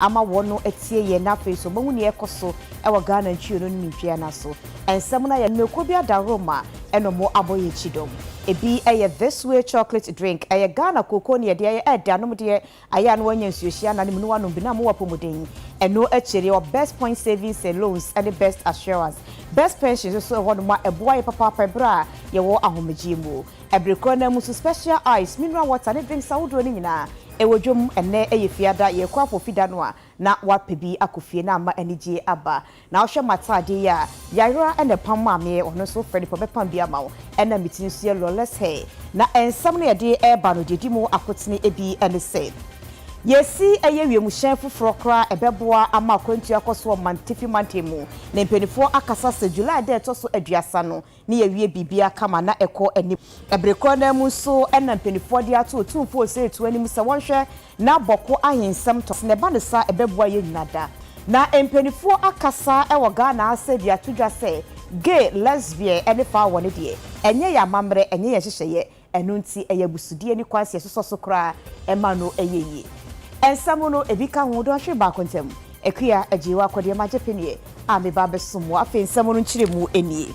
ama wɔn no atie yɛn na afei nso wɔahu nea ɛrekɔ so wɔ Ghana ntweo no ne ne ntwea no aso. Nsɛm no ayɛ no mako bi adaworo ma ɛna wɔn abɔ yɛn kyidɔm. Ebi yɛ This Way Chocolate Drink, ɛyɛ Ghana kooko ne yɛde ayɛ ɛɛdɛ anomdeɛ, ayɛ a na wɔanya nsuohyia na ne mu no wɔanom bi na ama wɔapɔmuden. Ɛno akyiri yɛwɔ Best Point Savings and Loans ne Best Assurance. Best Pensions nso wɔ hɔnom a ɛboa yɛn papaapa bere a yɛwɔ ahomegyeɛ mu. Bere korɔ no ara mu nso Special Ice, Mineral Water ne drinks ahodoɔ no nyinaa Wɔ dwom, Ɛnnɛ yɛ Fiada, yɛrekɔ abɔ Fida no a, na wapɛ bi akɔ fie na ama anigyeɛ aba. Na wohwɛ m'ataadeɛ yi a, Yayra na ɛpam maa meɛ, ɔno nso frɛ nipa bɛpam bi ama wo. Ɛna me ti nso yɛ lawless hair. Na nsɛm no yɛde reba no deɛ ɛdi mu akotene bi ne sɛ, Yɛresi ɛyɛ wiemhyɛn foforɔ koraa ɛbɛboa ama akwantuo akɔ so wɔ Mantefi Mantam mu. Na mpaninfoɔ akasa sɛ July da a ɛtɔ so aduasa no ne yɛawie biribiara kama na ɛkɔ anim. Bere koro no ara mu nso na mpanimfoɔ de ato Otumfoɔ Osei-Tuo anim sɛ wɔnhwɛ na Bɔko Ahe nsɛm tɔ. Sɛ na ɛba no saa a, ɛbɛboa yɛn nyinaa da. Na mpanimfoɔ akasa wɔ Ghana ha sɛ de ato dwa sɛ gay, lesbian ne faa wɔ no deɛ, ɛnyɛ yɛn amammerɛ, ɛnyɛ yɛn nhyehyɛeɛ, Ɛno nti, ɛyɛ abusudeɛ ne kwan sɛ yɛsosɔ so koraa ɛma no yɛ yie. Nsa mu no, ebi ka ho, dɔnhwere baako ntam, Akua, gyee w'akɔdeɛ ma gyepene a meba abɛsom wo. Afei nsa mu no nkyerɛmu nie.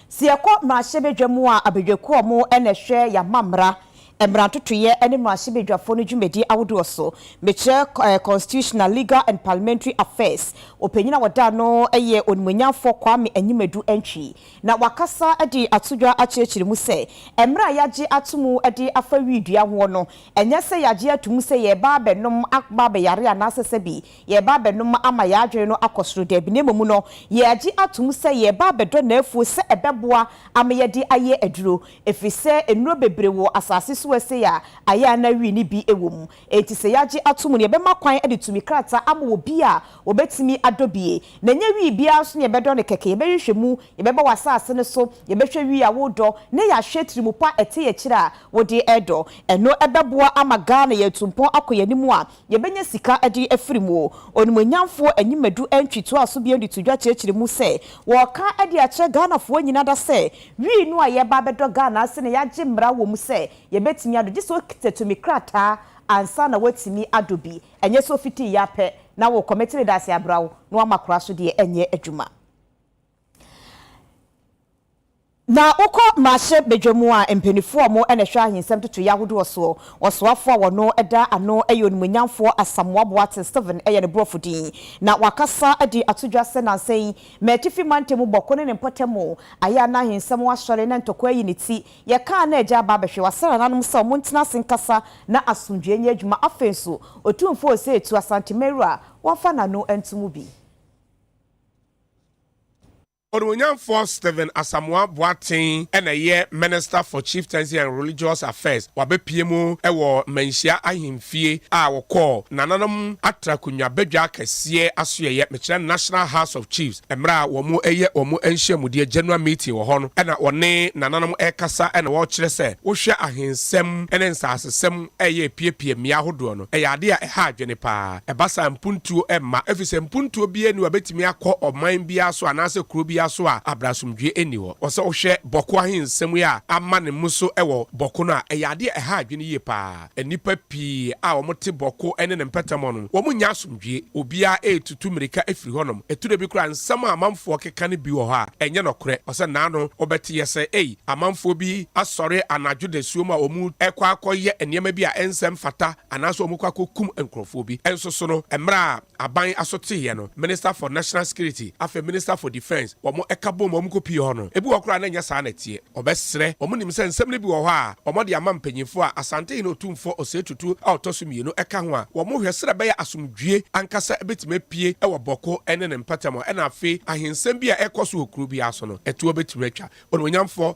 Sɛ yɛkɔ mmarahyɛbadwa mu a, abadwakuo a wɔn na ɛhwɛ yɛamammara, mmara ntotoeɛ ne mmarahyɛbadwafoɔ no dwumadie ahodoɔ so. Mekyerɛ Constitutional, Legal and Parliamentary Affairs. Ɔpanyin a wɔda ano yɛ Onimuonyamfoɔ Kwame Anyimadu Antwi. Na wakasa de ato dwa akyerɛkyerɛ mu sɛ, mmerɛ a yɛagye ato mu de afa wii dua hoɔ no, ɛnyɛ sɛ yɛagye ato mu sɛ yɛreba abɛnom aba abɛyare anaasɛ sɛbi yɛreba abɛnom ama yɛn adwene no akɔ soro, daabi, na mmom no yɛagye ato mu sɛ yɛreba abɛdɔ n'afuo sɛ ɛbɛboa ama yɛde ayɛ aduro, ɛfiri sɛ nnuro bebree wɔ asase so wɔ ɛsei a ayɛ a na wii no bi wɔ mu. Enti sɛ yɛagye atom no, yɛbɛma kwan de tumi krataa ama obi a obetumi adɔ bi. Na ɛnyɛ wii biara nso na yɛbɛdɔ no kɛkɛ. Yɛbɛhwehwɛ mu, yɛbɛba w'asase no so, yɛbɛhwɛ wii a woredɔ, na yɛahwɛ tirimu pa a ɛte akyiri a wode redɔ. Ɛno bɛboa ama Ghana yɛatu mpɔn akɔ yɛn anim a yɛbɛnya sika de afiri mu. Onimuonyamfoɔ Anyimadu Antwi toaa so bio de to dwa kyerɛkyerɛ mu sɛ, Wɔreka de akyerɛ Ghanafoɔ nyinaa da sɛ wii no a yɛreba abɛdɔ Ghana ase na yɛagye mmara wɔ mu sɛ Yɛbɛtumi adɔ, gye sɛ ɔkita tumi krataa ansa na watumi adɔ bi, ɛnyɛ sɛ ɔfiti ya pɛ na wo kɔmɛte ne dase abra wo na wama kora so deɛ ɛnyɛ adwuma. Na wokɔ mmarahyɛ badwa mu a, mpaninfoɔ a wɔn na ɛhwɛ ahensɛm totoeɛ ahodoɔ soɔ, ɔsoafoɔ a ɔno da ano yɛ onimuonyamfoɔ Asamoah Boateng Stephen yɛ ne borɔfo din, na wakasa de ato dwa sɛ nansa yi, M'Atifi Mantam mu bɔko ne ne mpɔtam ayɛ a na ahensɛm asɔre na ntɔkwa ayi ne ti Yɛkaa na agya aba abɛhwɛ w'ase nananom sɛ ɔmo ntena ase nkasa na asomdwoeɛ nyɛ adwuma. Afei nso, Otumfoɔ Osei Tuah Asante Mary a wamfa n'ano anto mu bi. Onuonyamfoɔ Stephen Asamoah Boateng na ɛyɛ Minister for Chieftaincy and Religious Affairs. Wabɛpue mu wɔ Manhyia Ahemfie a wɔkɔɔ nananom atra konwa badwa kɛseɛ asoɛeɛ, mekyerɛ National House of Chiefs. Mmerɛ a wɔn reyɛ wɔn nhyiamudeɛ, General Meeting, wɔ hɔ no, ɛna wɔne nananom rekasa ɛna wɔrekyerɛ sɛ, wohwɛ ahensɛm ne nsasesɛm reyɛ repiapia mmea ahodoɔ no, ɛyɛ adeɛ a ɛha adwene pa ara. Ɛba saa a, mpuntuo mma, ɛfiri sɛ mpuntuo biara nni hɔ a ɛbɛtumi akɔ ɔman biara so anaasɛ kuro biara so a abrɛ asomdwoeɛ nni hɔ. Wɔ sɛ wohwɛ Bɔko ahensɛm yi a ama ne mmuso wɔ Bɔko no a, ɛyɛ adeɛ a ɛha adwene yie pa ara. Nnipa pii a wɔte Bɔko ne ne mpɛtɛmɔ no, wɔnnya asomdwie. Obiara retutu mmirika firi hɔnom. Ɛtu da bi koraa a, nsɛm a amanfoɔ keka no bi wɔ hɔ a, ɛnyɛ nokorɛ. Ɔsɛ nna ano wobɛte yɛ sɛ, ei, amanfoɔ bi asɔre anadwo dasuo mu a wɔrekɔ akɔyɛ nneɛma bi a ɛnsɛ mfata, anaasɛ wɔrekɔ akɔkum nkurɔfoɔ bi. Nso so no, mmerɛ a Aban asoteeɛ no, Minister for National Security, afei Minister for Defence, wɔn ɛka bom wɔn kɔ pie hɔ no, ebi wɔ hɔ koraa na ɛnyɛ saa na ɛteɛ. Wɔbɛsrɛ, wɔn nim sɛ nsɛm no bi wɔ hɔ a wɔde ama mpanyinfoɔ a Asantehene Otumfoɔ Osei Tutu a ɔtɔ so mmienu ɛka ho a wɔn hwɛ sɛdeɛ ɛbɛyɛ asomdwie ankasa bɛtumi apue wɔ Bɔko ne ne mpatamu ɛna afei ahensɛm bi a ɛrekɔ so wɔ kuro biara so no ɛtoɔ bɛtumi atwa. Onimuonyamfoɔ.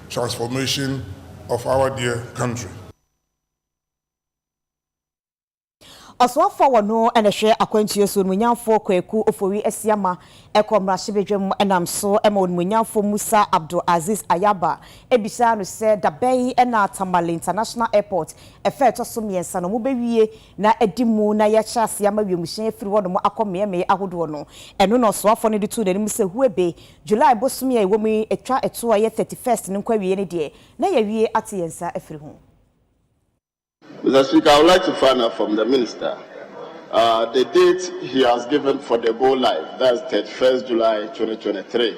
Transformation of our dear country. Ɔsoafoɔ a ɔno na ɛhwɛ akwantuo so, Onimuonyamfoɔ Kwaku Ofori Asiama kɔɔ mmarahyɛbadwam nam so ma Onimuonyamfoɔ Musa Abdul Aziz Ayaba bisaa no sɛ da bɛn na Tamale International Airport fɛ a ɛtɔ so mmiɛnsa no wɔbɛwie na adi mu na yɛahyɛ aseɛ ama wiemhyɛn afiri hɔnom akɔ mmeaemmeae ahodoɔ no, ɛno na ɔsoafoɔ no de too n'anim sɛ, Hu ebe, July bosome a yɛwɔ mu yi, ɛtwa ɛtoɔ a ɛyɛ thirty first no nkɔawieɛ no deɛ, na yɛawie ate yɛn nsa afiri ho. Mister Speaker, I would like to find out from the Minister uh, the date he has given for the go live, that's thirty first July twenty twenty three.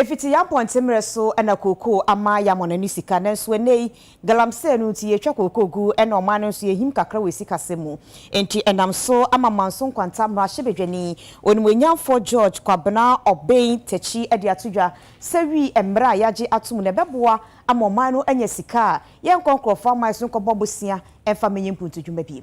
Efiti yɛn mpɔntenmerɛ so na kookoo ama yɛamɔ no ani sika, nanso ɛnnɛ yi, galamsey no nti yɛtwa kookoo gu na ɔman no nso yɛhim kakra wɔ asikasɛm mu. Enti ɛnam so ama Manso Nkwanta mmarahyɛbadwani, Onimuonyamfoɔ George Kwabena Obeng Takyi de ato dwa sɛ wi mmerɛ a yɛagye atom no ɛbɛboa ama ɔman no anya sika a yɛnkɔ nkorɔfoɔ aman so nkɔbɔ bosea mfa mmɛnyɛ mpuntudwuma bio.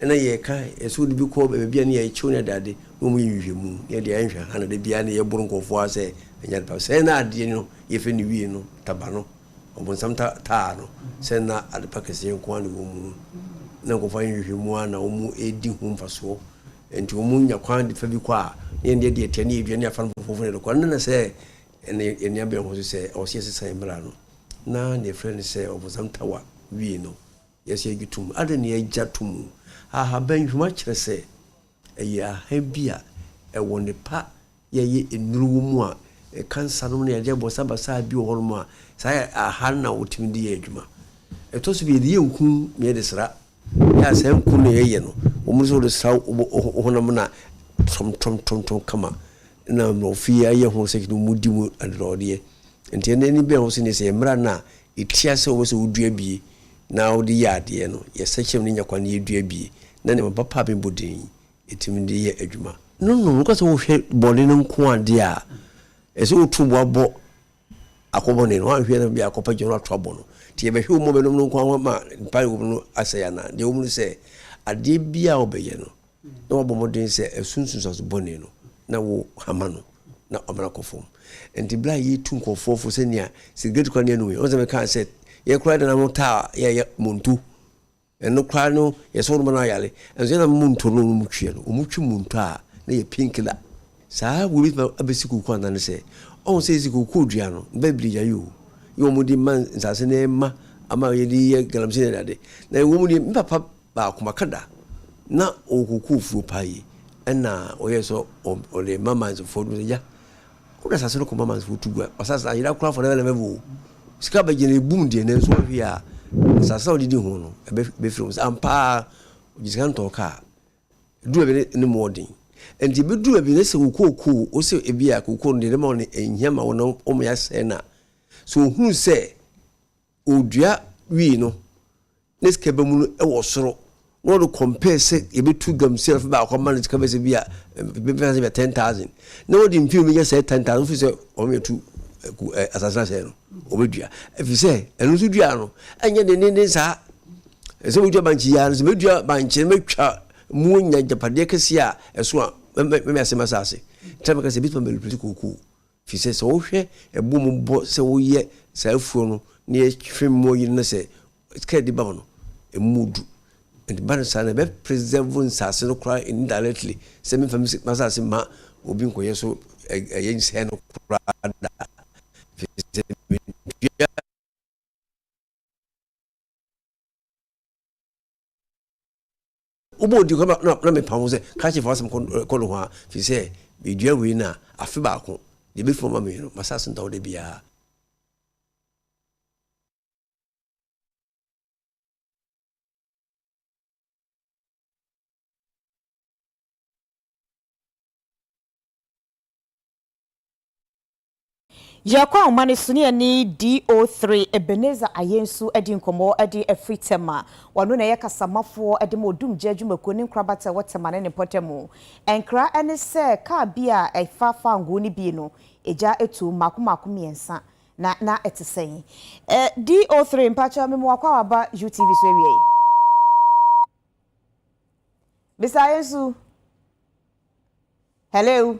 na yɛka yɛsɛ wɔde bi kɔ baabi a na yɛkyew ne dade na wɔyɛ nhwehwɛmu na yɛde anhwɛ ha na da biara na yɛboro nkurɔfoɔ a sɛ ɛnyɛ adepa sɛn na adeɛ no yɛfɛ no wie no taba no ɔbonsam ta taa no sɛn na adepa kɛseɛ nko ara na ɛwɔ mu no na nkurɔfoɔ ayɛ nhwehwɛmu ara na wɔn ɛredi ho mfasoɔ nti wɔn nya kwan de fa bi kɔ a na yɛn deɛ deɛ ɛteɛ ne yɛdua ne afa no fofofo na yɛde kɔ na na sɛ ɛne yɛn nuabɛn ho so sɛ ɔwɔ sɛ yɛsesa yɛn mmara no na na yɛfrɛ no sɛ ɔbonsam tawa wie no Yɛse agye tom. Adɛn ne agya to mu? Ahaban nhwuma kyerɛ sɛ ɛyɛ aha bi a ɛwɔ ne pa yɛyɛ nnuru wɔ mu a ɛka nsanom ne adeɛ bɔsabasa bi wɔ hɔnom a saa aha no na wɔtumi de yɛ adwuma. Ɛtɔ so bi yɛde yɛ nku na yɛde sra yɛ a saa nku no na yɛyɛ no wɔ mu no sɛ wode sra wo honam no a tɔmtɔmtɔmtɔm kama na mmorɔfo yi ayɛ ho sɛ kete wɔdi mu adɔdɔɔdeɛ nti ɛnɛ ani bɛn ho sɛ neɛ sɛ yɛ mmara no a Etia sɛ wobɛsɛ wo dua bie na wode yɛ adeɛ no, yɛ sɛkyɛm ne nya kwan na yɛ dua bie na nneɛma pa pa a bɛbɔ din yi, ɛtumi de yɛ adwuma. No no, nokwasɛ wo hwɛ bɔne no nko adeɛ a, ɛsɛ wo to boa bɔ akɔ bɔne no, woanhwɛ na bia akɔ pa gyina hɔ ato abɔ no, nti yɛ bɛhwɛ wo mmɔbɛnom no nko ara ma mpa a ɛwɔ mu no asɛe anaa, deɛ ɛwɔ mu ne sɛ, adeɛ bia a wo bɛyɛ no, na wabɔ mmɔden sɛ ɛso nsunsuanso bɔne no na wo hama no na ɔmena kɔ fam nti bla yi tu nkɔfoɔ fo sɛ nea sigaret kora nea no yi ɔnsɛ mekaa sɛ yɛ kora dana no taa yɛ yɛ monto ɛno kora no yɛ sɛ wɔn no ayale ɛnso yɛ na monto no wɔn twi no wɔn twi monto a na yɛ pinkila saa wo bituma abɛsi koko anane sɛ ɔn sɛ yɛsi koko dua no bɛbili gya yi o yɛ wɔn di ma nsase na ɛma ama yɛ di yɛ galamsey na ɛdade na wɔn di mpapa baako maka da na ɔkɔkɔɔ fuo paa yi ɛna ɔyɛ sɛ ɔde ma mansefoɔ no sɛ ya wode asase no kɔma mansefoɔ tu gua asase ayera koraa for na ɛna bɛbɔ sika bɛgye no ɛbum deɛ nanso ɔhwe a asase a ɔde di ho no ɛbɛfiri mu sɛ ampaa ɔgye sika ntɔɔ kaa du baabi ne ne mmoɔ den nti ɛbɛdu baabi ne sɛ kokookoo wo sɛ ebi a kokookoo no deɛ ne ma ɔne ɛnhia ma wo na ɔma yɛasɛe no a sɛ ɔhunu sɛ Odua wii no, ne sika bɛ mu no wɔ soro, na ɔde compare sɛ yɛbɛtu gamusia afe baako ama no sika bɛ sɛ bi a bɛbɛnya sɛ bɛ ten thousand, na wɔde mfie bɛnya sɛ ten thousand, ɔfiri sɛ wɔn yɛtu asase no asɛe no, wɔbɛdua, ɛfiri sɛ ɛno nso dua no ɛnyɛ dendenden saa, ɛsɛ sɛ wɔdua bankye yia no, sɛ mɛdua bankye no mɛtwa mu anya agyapadeɛ kɛseɛ a ɛso a mɛmɛ asɛm asase, tena mɛka sɛ bɛtuma mɛlipiriti kookoo. Efisɛ sɛ wohwɛ ɛbo mu bɔ sɛ woyɛ saa afuo no na yɛhwɛ mmoa yi na sɛ sika de ba mu no ɛmu du nti ba no saa na ɛbɛ preserve nsase no koraa indirectly sɛ memfa m'asase mma obi nkɔyɛ so ɛyɛ nsɛe no koraa da efisɛ mentua Wobɔ odin koraa na na mepa ho sɛ ka kyerɛ fa w'asɛm kɔ nohoa firi sɛ medua wei no a afe baako deɛ ɛbɛfiri ɔma me no masa so ntawo da biara. Yɛ kɔ ahoma no so ne yɛne DO3 Ebenezer Ayensu adi nkɔmmɔ de afiri Tema. Ɔno na ɛyɛ kasamafoɔ de ma Odumgya adwumakuo ne nkorabata a ɛwɔ Tema ne ne mpɔtam. Nkra ne sɛ kaa bi a ɛfa Fangoo no bi no, egya tuom mmaako mmaako mmiɛnsa. Na na ɛte sɛn? DO3, mpakyɛw me mmoa, kɔ a waba UTV so awia yi. Mister Ayensu. Hello.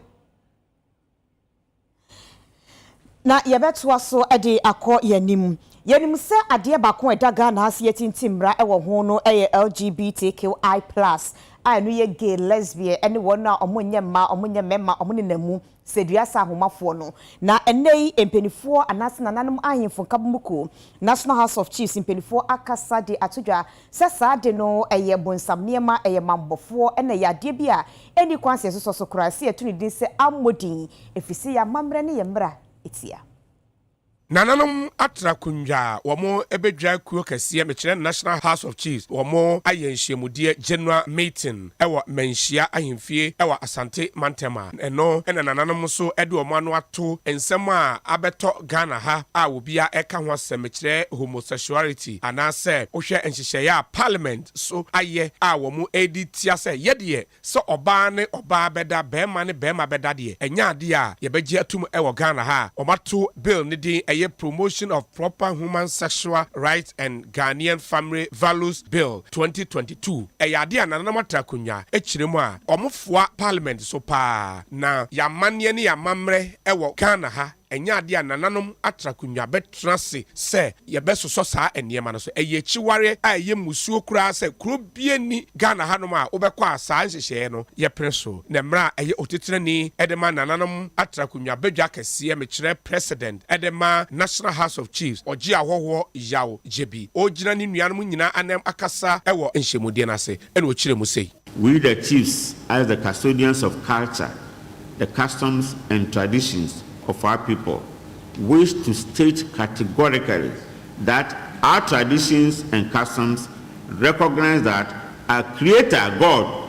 Na yɛbɛtoa so de akɔ yɛn anim. Yɛnim sɛ adeɛ baako a ɛda Ghana ha sɛ yɛtintim mmara wɔ ho no yɛ LGBTQI plus a ɛno yɛ gay, lesbian, ɛne wɔn a wɔn nyɛ mmaa, wɔn nyɛ mmarima, wɔn nenam mu sɛ dua sɛ ahomafoɔ no. Na ɛnnɛ yi mpanifoɔ anaasɛ nananom ahemfo nkabomu kuo, National House of Chiefs mpanifoɔ akasa de ato dwa Sɛ saa de no, ɛyɛ bonsam nneɛma, ɛyɛ mammɔfoɔ, ɛna ɛyɛ adeɛ bi a ɛnni kwan sɛ yɛsosɔ so koraa sɛ yɛto ne din sɛ ammɔ din, ɛfiri sɛ ɛyɛ amammerɛ ne yɛn mmara tia. Nananom atra akonnwa a wɔbɛdwira kuo kɛseɛ, mekyerɛ National House of Chiefs, wɔayɛ nhyiamudeɛ, General Meeting. wɔ Manhyia Ahemfie wɔ Asante mantam a, ɛno na nananom nso de wɔn ano ato nsɛm a abɛtɔ Ghana ha a obiara reka ho asɛm, mekyerɛ homosexuality, anaasɛ wohwɛ nhyehyɛeɛ a Parliament so ayɛ a wɔredi tia sɛ yɛ deɛ sɛ ɔbaa ne ɔbaa bɛda, barima ne barima bɛda deɛ, ɛnyɛ adeɛ a yɛbɛgye atom wɔ Ghana ha a. Wɔato Bill no din ɛyɛ Promotion of Proper Human Sexual Rights and Ghanaian Family Values Bill, twenty twenty two, Ɛyɛ ade a nananom atra akonnwa kyerɛ mu a wɔfoa parliament so paa, na yɛn amanneɛ ne yɛn amammerɛ wɔ Ghana ha, ɛnyɛ ade a nananom atra akonnwa bɛtena ase sɛ yɛbɛsosɔ saa nneɛma no so. Ɛyɛ akyiwareɛ a ɛyɛ mmusuo koraa sɛ kuro biara nni Ghana hanom a wobɛkɔ a saa nhyehyɛeɛ no yɛpene so. Na mmerɛ a ɛyɛ otitire ni de ma nananom atra akonnwa badwa kɛseɛ, mekyerɛ President, Ɛdɛ ma National House of Chiefs ɔgye ahɔhoɔ Yaw Gyebi. Ɔregyina ne nuanom nyinaa anam akasa wɔ nhyɛmudeɛ no ase na ɔkyerɛ mu sei. We the Chiefs as the custodians of culture, the customs and traditions of our people wish to state categorically that our traditions and customs recognise that our Creator, God,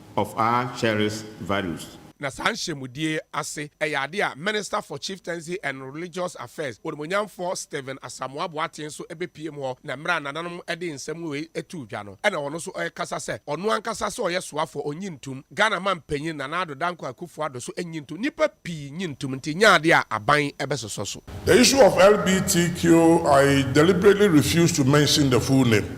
of our cherished values. Na saa nhyiamudie ase yɛ adeɛ a Minister for Chieftaincy and Religious Affairs, Onimuonyamfoɔ Stephen Asamoah Boateng nso bɛpiem hɔ na mmerɛ a nananom de nsɛm wei too dwa no na ɔno nso rekasa sɛ ɔno ankasa sɛ ɔyɛ soafoɔ ɔnnye ntom Ghana manpanyin Nana Addo Dankwa Akuffo Addo so nnye ntom nnipa pii nnye ntom nti nyɛ adeɛ a aban bɛsosɔ so. The issue of LBTQIA deliberately refused to mention the full name.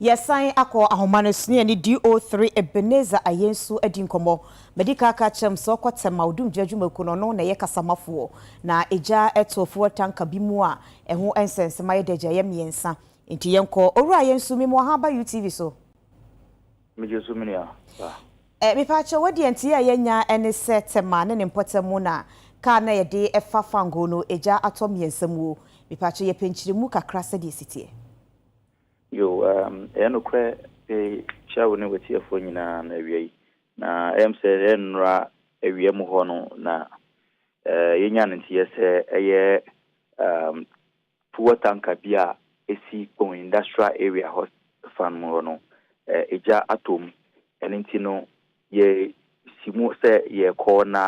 Yɛsan akɔ ahoma no so ne yɛne DO3 Ebenezer Ayensu adi nkɔmmɔ. Madi kan aka akyerɛ no sɛ ɔkɔ Tema Odumgya Adwumakuo no, ɔno na ɛyɛ kasamafoɔ. Na egya too fuel tanka bi mu a ɛho nsɛnsema yɛ dɛ gya, ɛyɛ mmiɛnsa. Enti yɛnkɔ. Owura Ayensu, memu ahaa aba UTV so. Me gye so me nua pa. Eh mepa kyɛw wo deɛ nteɛ a yɛ nya ne sɛ Tema ne ne mpɔtam mu na car no a yɛ de fa Fangoo no egya atɔ mmiɛnsa mu o. Mepa kyɛw yɛ pɛ nkyeremu kakra sɛdeɛ ɛsi teɛ. Yoo umm ɛyɛ nokorɛ pe kyia wo ne w'atiefoɔ nyinaa no awia yi na ɛyɛ me sɛ ɛyɛ nnora awia mu hɔ no na eh yɛ nya ne nteɛ sɛ ɛyɛ umm. Fuel tanker bi a esi Kpong Industrial Area hɔ fa no mu hɔ no, egya atɔ mu. Ɛno nti no, yɛsi mu sɛ yɛrekɔ na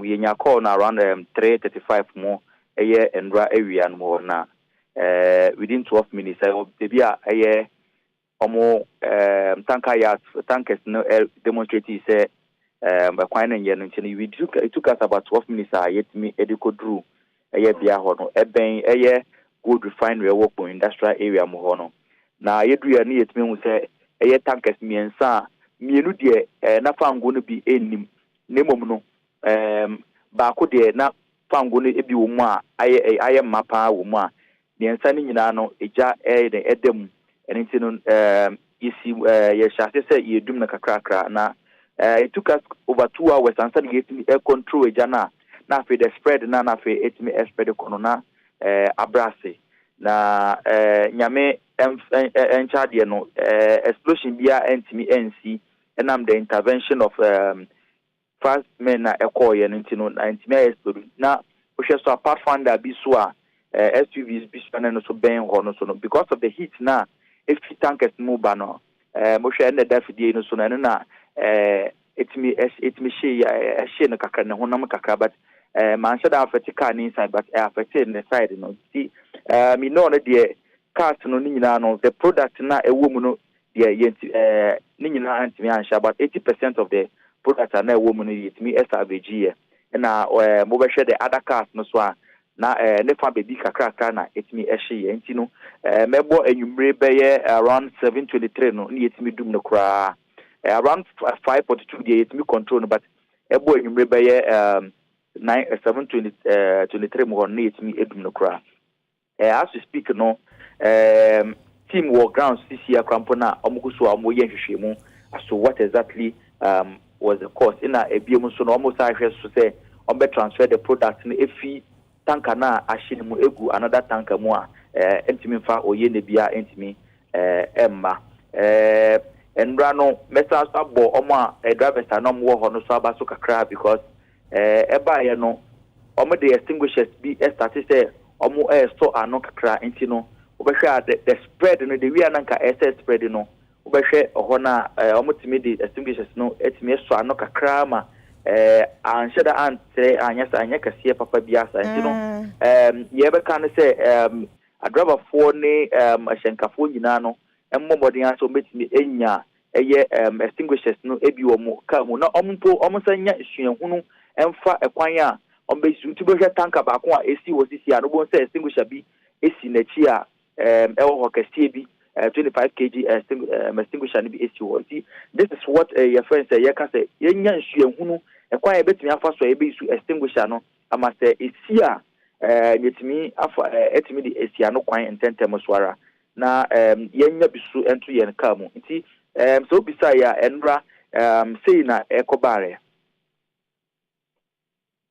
yɛnya kɔɔ no around three thirty five mu, ɛyɛ nnora awia no mu hɔ na within twelve minutes, ɛwɔ baabi a ɛyɛ Wɔn um, tanker yachts, tankers no eh, demonstrated sɛ um, ɛkwan no nyɛ no nti no, we took, it took us about 12 minutes a yɛtumi de kɔduru ɛyɛ bea hɔ no. Ɛbɛn ɛyɛ gold refinery ɛwɔ Kpong industrial area mu hɔ no. Na yɛduru yɛ no yɛtumi ahu sɛ ɛyɛ tankers mmiɛnsa a mmienu deɛ eh, na fango no bi nnim na mmom no um, baako deɛ na Fa ngo no bi wɔ mu a ayɛ ɛ, ayɛ ma paa wɔ mu a mmiɛnsa no nyinaa no gya ɛyɛ dɛn, ɛda mu. Ɛno nti no ɛɛ yɛsi ɛɛ yɛhyɛ aseɛ sɛ yɛredum no kakrakra na ɛɛ it took us over two hours ansa na yɛtumi ɛ control egya no a na afei the spread no a na afei ɛtumi ɛ spread kɔ no na ɛɛ abrɛ ase. Na ɛɛ Nyame ɛnf ɛ ɛ nkyɛ adeɛ no ɛɛ explosion biara ɛntumi ɛnsi ɛnam the intervention of ɛɛ Fast men na ɛkɔɔ yɛ no nti no na ɛntumi ayɛ spedo na wohwɛ so a pathfinder bi so a SUVs bi so a na ɛno so bɛn hɔ no so no because of the heat na ɛfi tankers no mu ba no wohwɛ ɛna ɛda fidie yi no so no ɛno na ɛtumi ɛtumi hye ɛhye no kakra ne honam kakra but manhyɛ da afɛte car no inside but ɛafɛte ne side no nti me know no deɛ cars no ne nyinaa no the product na ɛwɔ mu no Deɛ yɛ nti ɛɛ ne nyinaa antumi anhyɛ about eighty percent of the product a na ɛwɔ mu no yɛtumi salvage yɛ ɛna ɛɛ mo bɛ hwɛ the other cars no so a na ɛɛ ne fa bɛbi kakrakra na ɛtumi ɛhye yɛ nti no ɛɛ mɛ bɔ enyimire bɛ yɛ around seven twenty three no ne yɛtumi dum no koraa ɛɛ around five forty two deɛ yɛtumi control no but ɛbɔ enyimire bɛ yɛ ɛɛ nine seven twenty ɛɛ twenty three mu hɔ no ne yɛtumi edum no koraa. Eh as we speak no ehm team wɔ grounds sisia kora mpo na wɔn kɔ so a wɔn yɛ nhwehwɛmu aso what exactly ehm was the cost ena ebiem nso no wɔn saa hwɛ so sɛ wɔn bɛ transfer the product no efi tanka na ahye no mu egu another tanka mu a eh ntumi nfa oye na bia ntumi eh ɛmma eh nnura no mɛsan so abɔ wɔn a eh drivers a na wɔn wɔ hɔ no so aba so kakra because Ɛɛ ɛbaeɛ no wɔn de extinguishers bi starte sɛ wɔn resɔ ano kakra nti no wobɛhwɛ a the, the spread no the wia na nka ɛsɛ spread no wobɛhwɛ hɔ no a ɛɛ wɔn tumi de extinguishers no atumi sɔ ano kakra ma ɛɛ anhyɛ da antrɛ anyɛ sa anyɛ kɛseɛ papa bi asa nti no ɛɛ mm. yɛbɛka no sɛ ɛɛ adrabafoɔ ne ɛɛ ahyɛnkafoɔ nyinaa no mmɔ mmɔden a sɛ wɔbɛtumi anya ɛyɛ extinguishers no bi wɔ wɔn car mu na wɔn mpo wɔsan nya suahunu mfa kwan a wɔbɛ su nti bɛhwɛ tanka baako a esi hɔ sisi a no wɔn sɛ extinguisher bi esi n'akyi a ɛwɔ hɔ kɛseɛ bi 25 kg extinguisher no bi esi hɔ nti this is what yɛ friend sɛ yɛka sɛ yɛnya suahunu kwan a yɛbɛtumi afa so a yɛbɛ su extinguisher no ama sɛ esi a yɛtumi afa ɛtumi de esi ano kwan ntɛntɛm so ara na um yɛnnya bi so nto yɛn car mu. Nti um sɛ wobisaa yɛ a, ɛnora um sei na ɛkɔbaeɛ.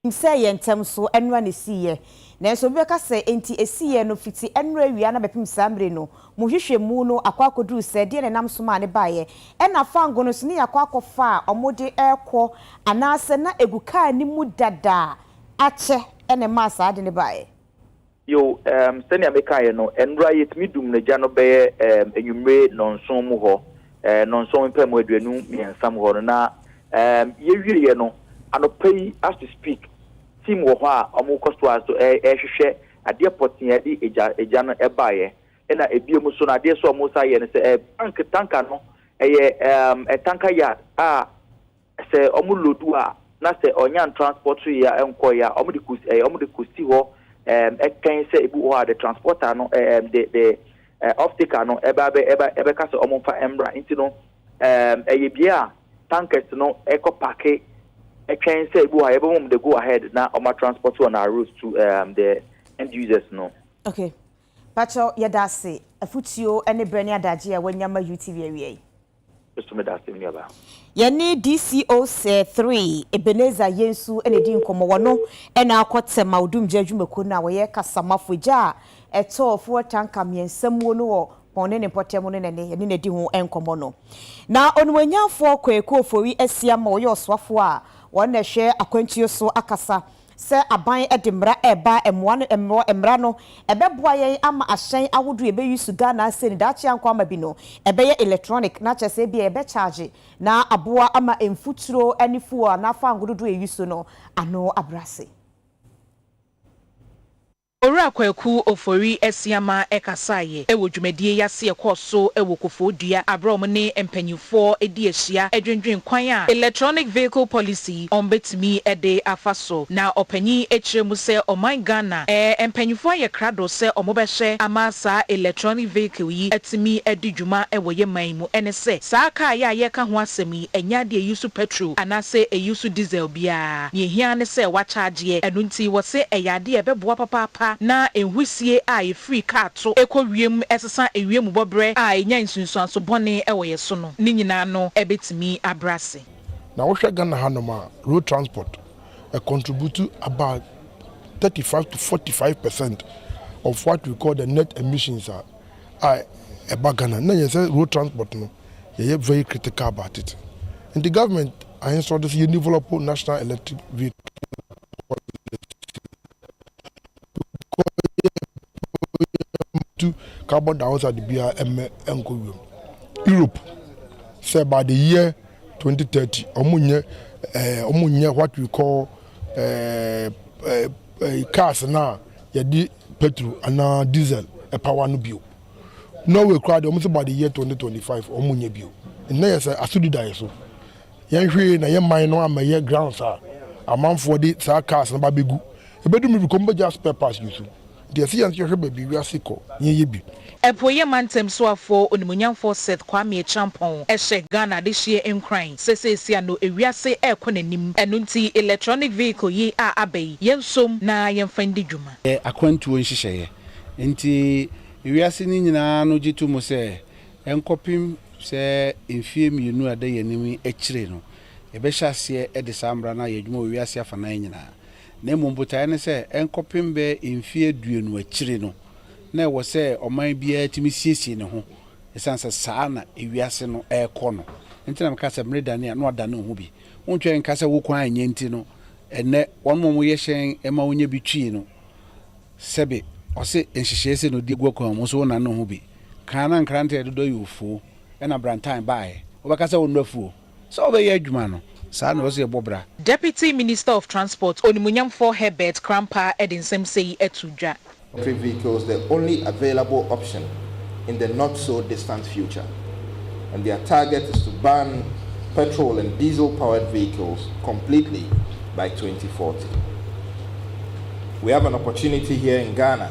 Nim sɛ yɛn ntam so ɛnora na ɛsiiɛ. Nanso obi bɛka sɛ, Enti ɛsiiɛ no fiti ɛnora awia na bɛpem saa mmere no mu hwehwɛmu no akɔ akɔduru sɛɛ, deɛn na ɛnam so maa no baeɛ? Ɛna fango no nso, ne yɛakɔ akɔfa a wɔde rekɔ anaasɛ na ɛgu car no mu dada a akyɛ na ɛmaa saa ade no baeɛ? Yow, ɛɛm, sɛnea mekaeɛ no, nnora yɛtumi dum no gya no bɛyɛ, ɛɛm, anwummere nnɔnson mu hɔ, ɛɛ, nnɔnson mpamu aduonu mmiɛnsa mu hɔ no, na, ɛɛm, yɛwieɛ no, anɔpa yi, as we speak, team wɔ hɔ a wɔkɔ so ara nso rehwehwɛ adeɛ pɔtee a ɛde gya, gya no baeɛ. Ɛna ebio mu nso no, adeɛ nso a wɔsan yɛ no sɛ, ɛɛ, tank, tanka no, ɛyɛ, ɛɛm, tanka yard a sɛ ɔmo lodu a na sɛ ɔnya ntransspɔt so yɛ a ɛnkɔ yɛ a ɔmo de kɔs ɛɛ ɔmo de kɔsi hɔ ɛɛm ɛtwɛn sɛ ebi wɔ hɔ a de transpɔta no ɛɛm de de ɛɛ ɔfteker no ɛba ɛbɛ ɛba ɛbɛka sɛ ɔmo nfa ɛmmra nti no ɛɛm ɛyɛ bia a tankɛs no ɛkɔ pake ɛtwɛn sɛ ebi wɔ hɔ a yɛbɛma ɔmo de go ahɛd na ɔmo atranspɔt wɔn aros tu ɛɛm de ɛnd yusɛs no. Ok pakyɛw yɛda ase afutuo ɛne brɛ ne adagye a wanya ma UTV awia yi. Yesu meda ase nnuaba. Yɛne DCO Sir Three Ebenezer Yensu na edi nkɔmmɔ. Wɔno na akɔ Tema Odumgya Adwumakuo no a wɔyɛ kasamafo. Egya a ɛtɔɔ fuel tanka mmiɛnsa muo no wɔ Pɔn ne ne mpɔtam no na ɛne yɛne no adi ho nkɔmmɔ no. Na Onimuonyamfoɔ Kwaku Ofori Asiamah a ɔyɛ Ɔsoafoɔ a wɔn na ɛhwɛ akwantuo so akasa Sɛ aban de mmara reba a, mmoa no mmɔ mmara no. Ɛbɛboa yɛn ama ahyɛn ahodoɔ a ɛbɛ use Ghana ase no daakye ankɔ ama bi no ɛbɛyɛ electronic na kyerɛ sɛ ebia yɛbɛ charge na aboa ama mfuturo ne fuel anaa fango dodoɔ a yɛ use no ano abrɛ ase. Owura Kwaku Ofori Asiamah kasaeɛ wɔ dwumadie yi ase a ɛkɔɔ so wɔ Kofoo Dua aberɛ a wɔne mpaninfoɔ di ahyia dwendwen kwan a Electronic Vehicle Policy wɔn bɛtumi de afa so na ɔpanin kyerɛɛ mu sɛ ɔman Ghana mpaninfoɔ ayɛ krado sɛ wɔn bɛhwɛ ama saa electronic vehicle yi atumi adi dwuma wɔ yɛ man mu ɛne sɛ saa kaa yi a yɛreka ho asɛm yi Ɛnyɛ ade a eyi so pɛtro anaasɛ eyi so disel biara. Nea ehia ara ne sɛ wɔakyagyeɛ. Ɛno nti, wɔse ɛyɛ ade a ɛbɛboa papaapa na nhusie a efiri kaa to kɔ wiem sesa ewiemubɔberɛ a enya nsunsuanso bɔne wɔ yɛn so no. Ne nyinaa no betumi abrɛ ase. Na wohwɛ Ghana hanom a, road transport contribute about thirty five to forty five percent of what we call the net emissions a a ɛba Ghana na yɛn sɛ road transport no yɛyɛ very critical about it nti government ahensɔde so yɛ develop national electric vehicle policy carbon dioxide bia ɛmɛ ɛnkɔ wiem Europe sɛ by the year 2030 ɔmo nyɛ ɛɛ ɔmo nyɛ what we call ɛɛ ɛɛ cars naa. yɛde petro anaa diesel power no bio. Norway koraa deɛ wɔn sɛ by the year 2025 wɔn nyɛ bio. Nnɛ yɛ sɛ asodi da yɛ so. Yɛn hwee na yɛ man no amɛyɛ grounds a amanfoɔ de saa cars no ba bɛgu. Ɛbɛdu mmiri bi kɔm bɛgya spare parts gu so. Nti ɛsɛ yɛn nso yɛhwɛ baabi wiase kɔ yɛn yɛ bi. Apueeɛ mantam soafoɔ onimuonyamfoɔ Seth Kwame Acheampong hyɛ Ghana adehyeɛ nkuran sɛ seesei ano ewiase rekɔ n'anim, ɛno nti electronic vehicle yi a aba yi yɛnsom na yɛmfa ndi dwuma. Yɛ akwantuo nhyehyɛeɛ. Enti ewiase no nyinaa no gye to mu sɛ ɛnkɔpem sɛ mfeɛ mmienu a ɛda yɛn anim yi akyire no, yɛbɛhyɛ aseɛ de saa mmara no ayɛ adwuma wɔ wiase afanan nyinaa. Na mmom botaeɛ ne sɛ ɛnkɔpem bɛyɛ mfeɛ aduonu akyire no, na ɛwɔ sɛ ɔman biara tumi siesie ne ho ɛsiane sɛ saa na ewiase no rekɔ no nti na meka sɛ mmere dane a na wɔada ne ho bi. Wontwɛn nka sɛ wo kwan anyɛ nti no ɛnnɛ wɔnom a wɔyɛ hyɛn ma wonya bi twi no sɛbe ɔse nhyehyɛe sei na ɔde gu akwan mu nso wonane ne ho bi. Kan na nkrantɛ dodoɔ yɛ ofuo ɛna brantan baeɛ wobɛka sɛ wo nnɔ afuo. Sɛ wobɛyɛ adwuma no, saa na ɛwɔ sɛ yɛbɔ bra. Deputy Minister of Transport, Onimuonyamfoɔ Herbert Krampah de nsɛm sɛi ato dwa. Electric vehicles the only available option in the not so distant future and their target is to ban petrol and diesel powered vehicles completely by twenty forty. We have an opportunity here in Ghana.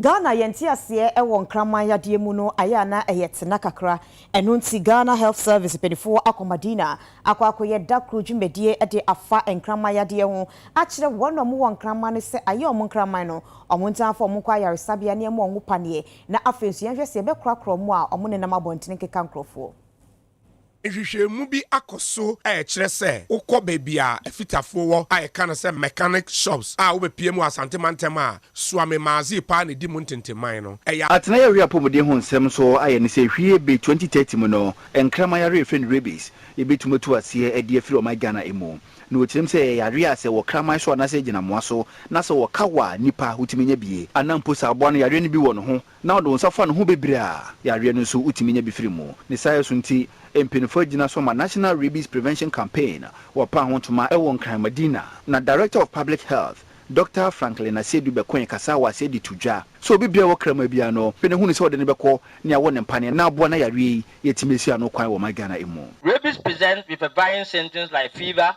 Ghana yɛ nteaseɛ wɔ nkraman yadeɛ mu no ayɛ a na ɛyɛ tena kakra, ɛno nti Ghana Health Service mpaninfoɔ akɔ Madina akɔ akɔyɛ da koro dwumadie de afa nkraman yadeɛ ho akyerɛ wɔn a wɔwɔ nkraman no sɛ ayɛ wɔn nkraman no wɔn ntaa mfa wɔn nkɔ ayaresabea na ɛmma wɔn paneɛ na afei nso yɛnhwɛ sɛ yɛbɛkorakora wɔn a wɔnenam abɔntene nkeka nkorɔfoɔ. Nhwehwɛmu bi akɔ so a ɛkyerɛ sɛ wokɔ baabi a afitafoɔ wɔ a yɛka no sɛ mechanic shops a wobɛpue mu wɔ Asante mantam a, Suame Maadzee paa na ɛdi mu ntentemman no. Ɛyɛ. Atenaeɛ were apɔmuden ho nsɛm nso ayɛ ne sɛ hwie be 2030 mu no nkraman yareɛ a yɛfrɛ no rabies yɛbɛtumi atu aseɛ adi afiri ɔman Ghana mu. Na wɔkyerɛm sɛ ɛyɛ yareɛ a sɛ wɔ kraman so anaasɛ ɛgyina mmoa so na sɛ wɔka wo a nnipa wotumi nya bie anaa mpo sɛ aboa no yareɛ no bi wɔ ne ho na ɔde wo nsa fa ne ho bebree a, yareɛ no nso wotumi nya bi firi mu. Ne saayɛ so nti, mpanyinfoɔ agyina so ama National Rabies Prevention Campaign wɔ paa ho ntoma wɔ Nkran Madina, na Director of Public Health, Dɔkta Franklin Asiedu bɛkoe kasaa wɔ aseɛ de to dwa sɛ obi biara a ɔwɔ kraman biara no hwɛ na hunu sɛ ɔde no bɛkɔ ne awɔ ne mpaneɛ na aboa na yareɛ yi yɛtumi asi ano kwan wɔ ɔman Ghana mu. Rabies presents with a varying symptoms like fever,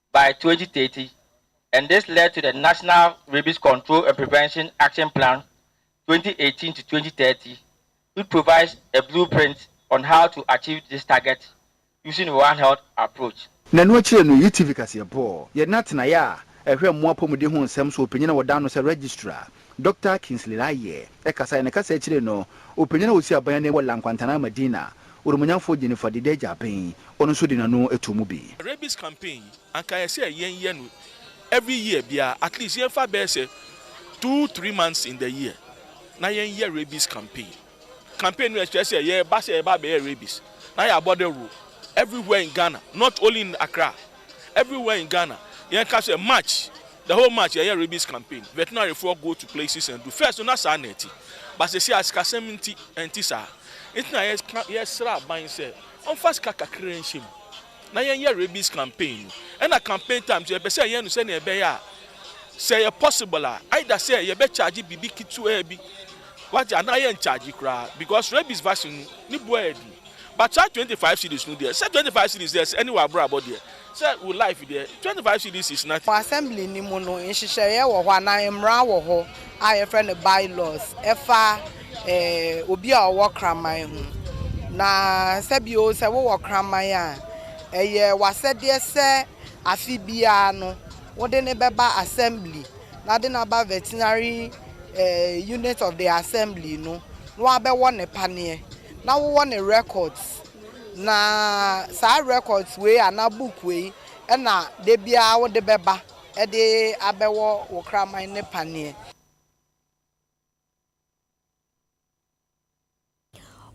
by twenty thirty and this led to the National Rabies Control and Prevention Action Plan twenty eighteen to twenty thirty which provides a blueprint on how to achieve this target using One Health approach. Na ɛno akyire no yɛyi TV kaseɛbɔ. Yɛde no atenaeɛ a ɛhwɛ mmoa apɔmuden ho nsɛm so, ɔpanyin a wɔdan no sɛ Registrar. Dɔkta Kingsley Laryea kasae. Ne kasa ekyir no, opanyin a osi aban anan wɔ La Nkwantana Medina, Oromonyamfo Jennifer Dideja Aben, ɔno so dze n'ano too mu bi. Rabies campaign yi anka ayɛ sɛ yɛn yɛ no every year biara at least yɛn fa bɛyɛ sɛ two three months in the year na yɛn yɛ rabies campaign. campaign no ɛkyerɛ sɛ yɛreba sɛ yɛreba abɛyɛ rabies na yɛ abɔ dawuro everywhere in Ghana not only in Accra everywhere in Ghana yɛn ka sɛ March the whole March yɛyɛ rabies campaign veterinary foɔ go to places and do first no na saa na ɛti ba sɛ si asikasɛm nti ɛnti saa nti na yɛ yɛsrɛ aban sɛ ɔnfa sika kakra nhyɛ mu na yɛnyɛ rabies campaign no ɛna campaign time nso yɛpɛ sɛ yɛyɛ no sɛnea ɛbɛyɛ a sɛ ɛyɛ possible a either sɛ yɛbɛ charge biribi ketewaa bi wagye anaa yɛn charge koraa because rabies vaccine no ne boɔ yɛ den but saa twenty five cedis no deɛ sɛ twenty five cedis deɛ sɛ ɛne wɔ abrabɔ deɛ sɛ wo life deɛ twenty five cedis is nothing. Wɔ assembly no mu no, nhyehyɛeɛ wɔ hɔ anaa mmara wɔ hɔ a yɛfrɛ no by laws ɛfa. obi a ɔwɔ kraman ho. Na sɛ bio, sɛ wowɔ kraman a, ɛyɛ w'asɛdeɛ sɛ afe biara no wode no bɛba assembly na wode no aba veterinary unit of the assembly no na wabɛwɔ ne paneɛ na wowɔ ne records. Na saa records wei anaa book wei na da biara wode bɛba de abɛwɔ wo kraman no paneɛ.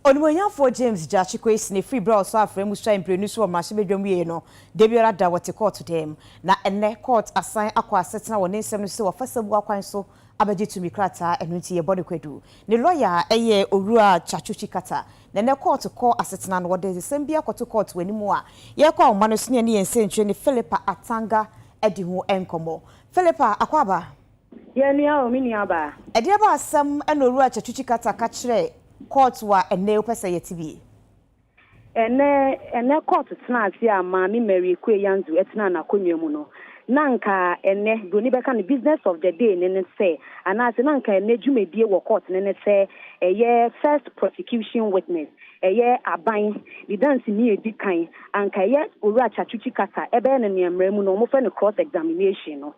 Onimuonyamfoɔ James Gyakye Kwesine firi berɛ a ɔsɔɔ afrɛ mu suae mprenu so wɔ mmarahyɛbadwam wieeɛ no, da biara da wɔte kɔɔto dan mu. Na ɛnnɛ kɔɔt asan akɔ asetena wɔ ne nsɛm no sɛ wafa asɛmbuo akwan so abɛgye tumi krataa, ɛno nti yɛbɔ no kwadu. Ne lɔya yɛ Owura Kyakyochi Kata. Na ɛnnɛ kɔɔto kɔ asetena no, wɔde nsɛm bi akɔto kɔɔto wɔ anim a yɛrekɔ ahoma no so ne yɛne yɛn nsɛntwerɛni Philippa Atanga adi ho nkɔmmɔ. Philippa Akwaaba. Yɛ me a o me nua baa. Ɛdeɛ ba asɛm na owura Kyatuchi Carter ka kyerɛ court wa ɛnɛ wopɛ sɛ yɛte bi? Ɛnɛ ɛnɛ court tenaa ase a maame Mary Ekue Yanzu ɛtenaa n'akonnwa mu no, na nka ɛnɛ broni bɛka no business of the day no ne sɛ, anaase na nka ɛnɛ dwumadie wɔ court no ne sɛ ɛyɛ first prosecution witness Ɛyɛ aban de danseni a edi kan a anka ɛyɛ Owura Chachuchi kasa ɛbɛyɛ no nea mmara mu no wɔfrɛ no cross examination no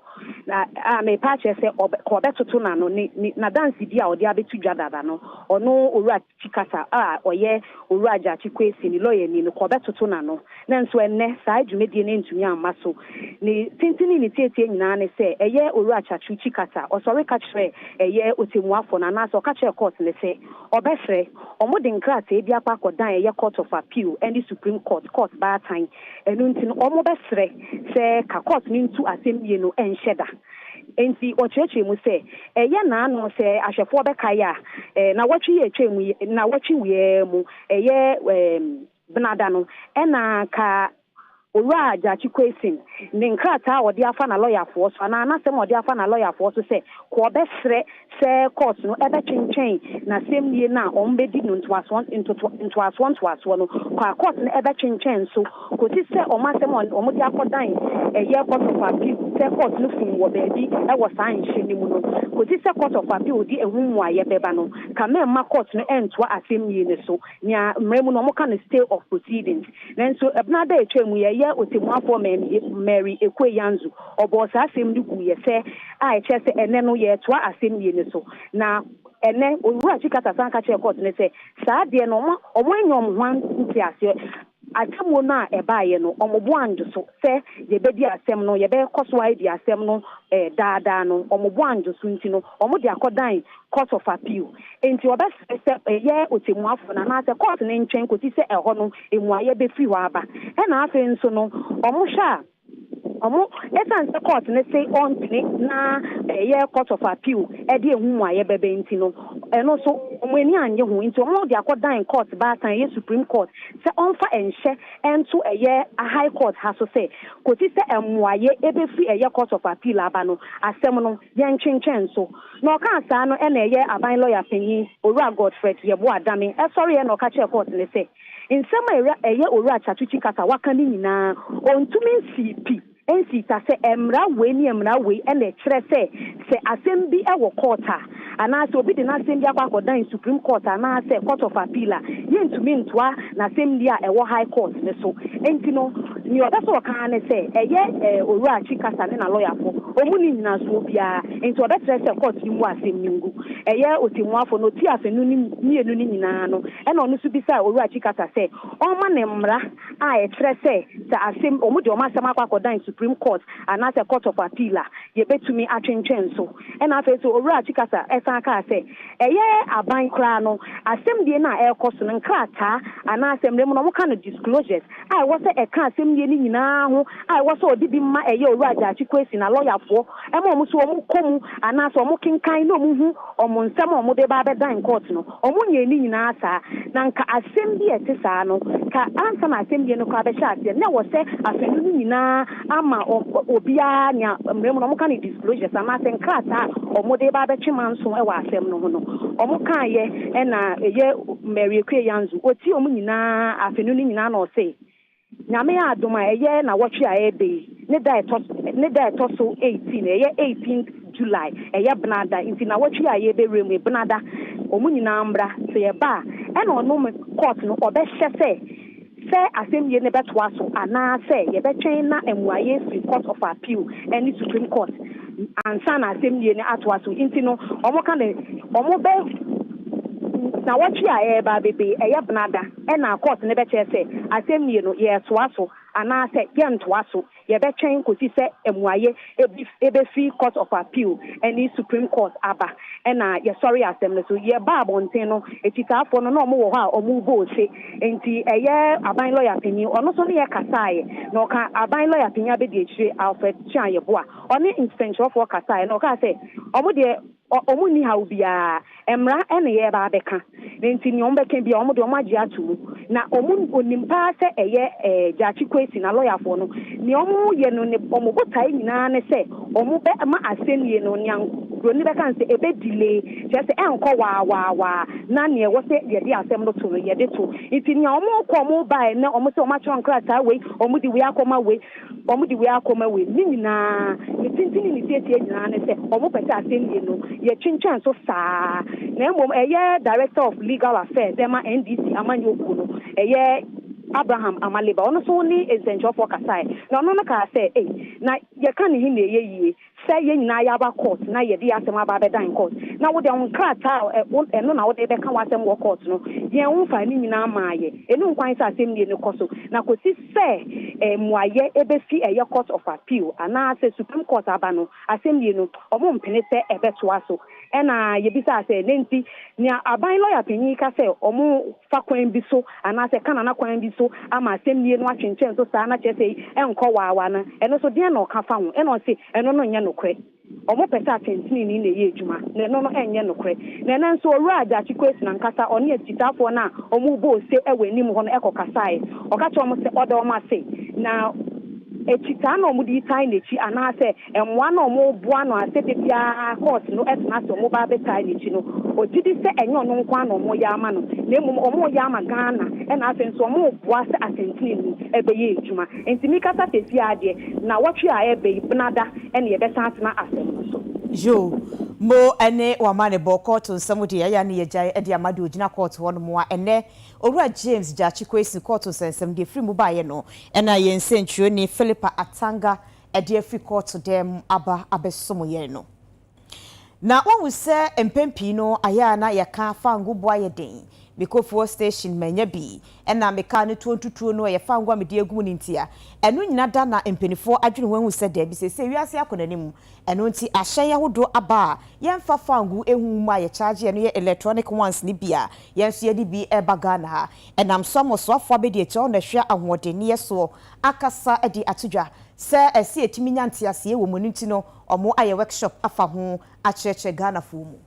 na a merepa akyerɛ sɛ ɔbɛ ka ɔbɛtoto n'ano ne ne n'adansedi a ɔde abeto dwa dada no ɔno Owura Chi kasa a ɔyɛ Owura Gyakye Kwesi ne lɔyani no ka ɔbɛtoto n'ano Nanso ɛnnɛ, saa dwumadie no antumi amma so. Ne tenten ne ne tietie nyinaa ne sɛ, ɛyɛ Owura Chachuchi kasa. Ɔsɔre ka kyerɛ ɛyɛ Ɔtɛmmuafoɔ no anaasɛ ɔka kyerɛ Court no sɛ ɔbɛfrɛ. Wɔde nkrataa bi akɔ akɔdan ɛyɛ Court of Appeal ne Supreme Court, Court Baatan. Ɛno nti no, wɔbɛsrɛ sɛ ka Court no ntu asɛmnie no nhyɛ da. Enti ɔkyerɛkyerɛ mu sɛ, ɛyɛ nnaano sɛ ahwɛfoɔ bɛkae a, nnawɔtwe yi a ɛtwaam yi, nnawɔtwe wei ara mu, ɛyɛ, ɛɛ, Benada no, nna anka Owura Gyakye Quayson ne nkrataa a ɔde afa n'alɔyafoɔ so anaa n'asɛm a ɔde afa n'alɔyafoɔ so sɛ kɔ ɔbɛsrɛ sɛ kɔɔto no bɛtwentwɛn n'asɛmnie no a wɔbɛdi no ntoasoɔ ntoto ntoasoɔ ntoasoɔ no kɔ a kɔɔto no bɛtwentwɛn nso kɔsi sɛ wɔn asɛm a wɔde akɔdan ɛyɛ Court of Appeal sɛ kɔɔto no fom wɔ baabi wɔ saa nhyɛ no mu no kɔsi sɛ Court of Appeal de ɛho mmuaeɛ bɛba no ka mɛmma kɔɔto no ntoa asɛmnie no so. Nea mmara mu no wɔka no stay of proceedings. Nanso ɛbenaada a etwaa mu yi, ɛyɛ Otemmuafoɔ Mary Ekue Yanzu, ɔbɔɔ saa asem no guiɛ sɛ a ɛkyerɛ sɛ ɛnnɛ no yɛretoa asem wie no so. Na ɛnnɛ Owura Chikata san ka kyerɛɛ kɔɔto no sɛ saa adeɛ no wɔn wɔn nyɛ wɔn ho nteaseɛ Atemmuo no a ɛbaeɛ no, wɔboaa Ndwo so sɛ yɛbɛdi asɛm no, yɛbɛkɔ so ara adi asɛm no daa daa no, wɔboaa Ndwo so nti no, wɔde akɔdan Court of Appeal. Enti wɔbɛsrɛ sɛ ɛyɛ ɔtɛmmuafoɔ no anaasɛ Court no ntwɛn kɔsi sɛ ɛhɔ no mmuaeɛ bɛfiri hɔ aba. Ɛna afei nso no, wɔhwɛ a, Ɔmo, esiane sɛ kɔɔt no se ɔntene na ɛyɛ court of appeal de ehu mmuaeɛ bɛba nti no, ɛno nso ɔmo ani annye ho nti ɔmo de akɔdan kɔɔt baasa a ɛyɛ Supreme Court sɛ ɔmfa nhyɛ nto ɛyɛ High Court ha so sɛ kosi sɛ mmuaeɛ bɛfiri ɛyɛ court of appeal aba no asɛm no yɛntwentwɛn so. Na ɔkaa saa no na ɛyɛ aban lɔya panyin Owura Godfred Yeboah Dame sɔreeɛ na ɔka kyerɛɛ kɔɔt no sɛ, Nsɛm a ɛwura ɛyɛ Owura Chatwuchi kasa a waka no nyinaa, ɔntumi nsii pi, ɛnsii ta sɛ mmara wei ne mmara wei na ɛkyerɛ sɛ sɛ asɛm bi wɔ court a, anaasɛ obi de n'asɛm bi akɔ akɔdan Supreme Court anaasɛ Court of Appeal a, yɛntumi ntoa n'asɛmdi a ɛwɔ High Court no so. Enti no, nea ɔpɛ sɛ ɔka ara ne sɛ ɛyɛ Owura Chi kasa ne n'alɔyafo, wɔn nni nnyinasoɔ biara, enti wɔbɛkyerɛ sɛ court no mmu asɛm no ngu. Ɛyɛ Ɔtemmuafo no, ɔti afanu no mmienu no nyinaa no, Ɛnna ɔno nso bisaa Owura Chikata sɛ ɔmma no mmara a ɛkyerɛ sɛ sɛ asɛm, wɔde wɔn asɛm akɔ akɔdan Supreme Court anaasɛ Court of Appeal a, yɛbɛtumi atwentwɛn so. Ɛnna afei nso Owura Chikata san kaa sɛ ɛyɛ aban koraa no, asɛmdie no a ɛrekɔ so no, nkrataa anaasɛ mmerɛ mu no wɔka no disclosures a ɛwɔ sɛ ɛka asɛmdie no nyinaa ho a ɛwɔ sɛ ɔde bi ma ɛyɛ Owura Gyakye Kwesi na lɔyafoɔ Ɛma wɔn nso wɔkɔ mu anaasɛ wɔkenkan na wɔhu wɔn nsɛm a wɔde ba abɛdan kɔɔt no. Wɔnyɛɛ ne nyinaa saa. Na anka asɛm bi a ɛte saa no, ka ansa na asɛnnibea no koraa bɛhyɛ aseɛ, na ɛwɔ sɛ asɛnni no nyinaa ama obiara nea mmara mu no wɔka no disclosures anaasɛ nkrataa a wɔde ba abɛtwe manso wɔ asɛm no ho no, wɔkaeɛ. Ɛna ɛyɛ Mary Akua Yanzu, ɔtiee wɔn nyinaa asɛnni no nyinaa na ɔse, Nyame adom a, ɛyɛ nawɔtwe a ɛɛba yi ne da a ɛtɔ so ne da a ɛtɔ so 18, ɛyɛ 18th July, ɛyɛ bena da, nti nawɔtwe yi a yɛɛbɛwura mu yi, bena da, wɔn nyinaa mmra, sɛ yɛba a, ɛna ɔno me court no ɔbɛhyɛ sɛ sɛ asɛmnie no bɛtoa so anaa sɛ yɛbɛtwɛn na mmuaeɛ afiri Court of Appeal ɛne Supreme Court ansa na asɛmnie no atoa so, nti no wɔka no wɔbɛ nawɔtwe a ɛɛba abɛba yi, ɛyɛ bena da. Ɛna court no bɛkyerɛ sɛ asɛmnie no yɛɛtoa so anaasɛ yɛntoa so. Yɛbɛtwɛn kɔsi sɛ amuaeɛ bi bɛfiri Court of Appeal ɛne Supreme Court aba. Ɛna yɛsɔre asɛm no so. Yɛbaa abɔnten no, akyitaafoɔ no na wɔn wɔ hɔ a wɔn rebɔ ose. Nti ɛyɛ aban lɔya panin, ɔno nso ne yɛ kasaaɛ. Na ɔka aban lɔya panin abɛdiakyire Alfred Kyeaayeboa, ɔne nsɛnkyerɛwfoɔ kasaaɛ na ɔkaa sɛ wɔn deɛ, Ɔ ɔmo nni haw biara. Mmara na yɛreba abɛka. Enti nea wɔbɛka biara, wɔn de, wɔagye ato mu. Na ɔmo onim paa sɛ ɛyɛ ɛɛ Gyakye Kwesi na lɔyafoɔ no. Nea wɔyɛ no ne wɔn botae nyinaa ne sɛ wɔbɛ ma asɛnnie no, nea Buroni no bɛka ne sɛ, ɛbɛ delay. Kyerɛ sɛ, ɛnkɔ waa waa waa. Na nea ɛwɔ sɛ yɛde asɛm no to no, yɛde to. Enti nea wɔkɔ wɔn baeɛ, ne wɔn sɛ wɔakyerɛw nkrataa wei, wɔde wei akɔma wei. Wɔde wei akɔma wei. Ne nyinaa, ne tenten ne ne tiatia nyinaa ne sɛ wɔpɛ sɛ asɛnnie no, yɛtwentwɛn so saa. Na mmom ɛyɛ Director of Legal Affairs ɛma NDC amanyɔ kuo no, ɛyɛ Abraham Amaliba, ɔno nso ne nsɛnkyerɛwfoɔ kasaeɛ, na ɔno no kaa sɛ, ei, na yɛka ne he na ɛyɛ yie. sɛ yɛn nyinaa yɛaba kɔɔt na yɛde yɛn asɛm aba abɛdan kɔɔt, na wo deɛ wo nkrataa a ɛ, wo, ɛno na wode rebɛka w'asɛm wɔ kɔɔt no, yɛn, womfaa ne nyinaa mmaa yɛn. Ɛnni ho kwan sɛ asɛmnie no kɔ so, na kɔsi sɛ ɛ, mmuaeɛ bɛfi ɛyɛ Court of Appeal, anaasɛ Supreme Court aba no, asɛmnie no, wɔmpene sɛ ɛbɛtoa so. Ɛnna yebisaa sɛ, Dɛn nti? Nea aban lɔya panyin yi ka sɛ wɔfa kwan bi so anaasɛ Kanana kwan bi so ama asɛnnii no atwentwɛn so saa na kyerɛ sɛ ɛnkɔ waawa no, ɛno nso deɛn na ɔka fa ho? Ɛnna ɔse, Ɛno no nyɛ nokorɛ. Wɔpɛ sɛ atɛntenenee na ɛyɛ adwuma, na ɛno no nyɛ nokorɛ. Na ɛnnɛ nso Owura Gyakye Quaison ankasa, ɔne akyitaafoɔ no a wɔrebɔ ose wɔ anim hɔ no kɔkasaeɛ. Ɔka kyerɛɛ wɔn sɛ ɔda wɔn ase, na akyitaa na wɔde retan n'akyi anaasɛ Mmoa no a wɔboa no a sɛ da biara court no tena ase a wɔba abɛtae no akyi no, ɔgye di sɛ ɛnyɛ ɔno nko ara na wɔreyɛ ama no, na mmom wɔreyɛ ama Ghana na afei nso wɔreboa sɛ asɛntenenee bɛyɛ adwuma. Enti mekasa seesei ara deɛ, nnawɔtwe a ɛreba yi, Benada na yɛbɛsan atena asɛm no so. Yoo, Mo ne wɔn amanebɔ, kɔɔto nsɛm deɛ, ɛyɛ a na yɛagyae de ama deɛ ɔgyina kɔɔto hɔnom a ɛnnɛ Owura James Gyakye Quaison, kɔɔto nsɛnsɛm deɛ ɛfiri mu baeɛ no na yɛn nsɛntwerɛni Philippa Atanga ɛde afiri kɔɔto dan mu aba abɛsom yɛn no. Na woahu sɛ mpɛn pii no ayɛ a na yɛka fango bo ayɛ den. Mekɔ fuel station mannya bi, ɛnna me kaa no tuo ntutuo no, ɛyɛ fango a mede agu mu no ntia. Ɛno nyinaa da na mpanimfoɔ adwene ho ahu sɛ daabi, seesei wiase akɔ n'anim, ɛno nti ahyɛn ahodoɔ aba a yɛmfa fango nhu mu a yɛkyaagye, ɛno yɛ electronic ones no bi a yɛn nso yɛde bi reba Ghana ha. Ɛnam so ama ɔsoafoɔ abɛdi akyire hɔ na ahwia ahoɔdenneɛ soɔ. akasa de ato dwa sɛ ɛsɛ yɛtumi nya nteaseɛ wɔ mu ɛno nti no ɔmo ayɛ workshop afa ho akyerɛkyerɛ Ghanafoɔ mu.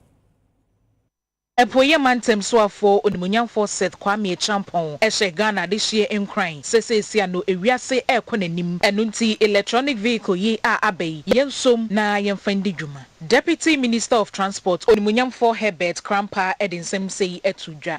Apueeɛ mantam soafoɔ onimuonyamfoɔ Seth Kwame Acheampong hyɛ Ghana adehyeɛ nkuran sɛ seesea no ewiase rekɔ n'anim ɛno nti electronic vehicle yi a aba yi yɛnsom na yɛmfa ndi dwuma. Deputy Minister of Transport onimuonyamfoɔ Herbert Krampah de nsɛm sei ato dwa.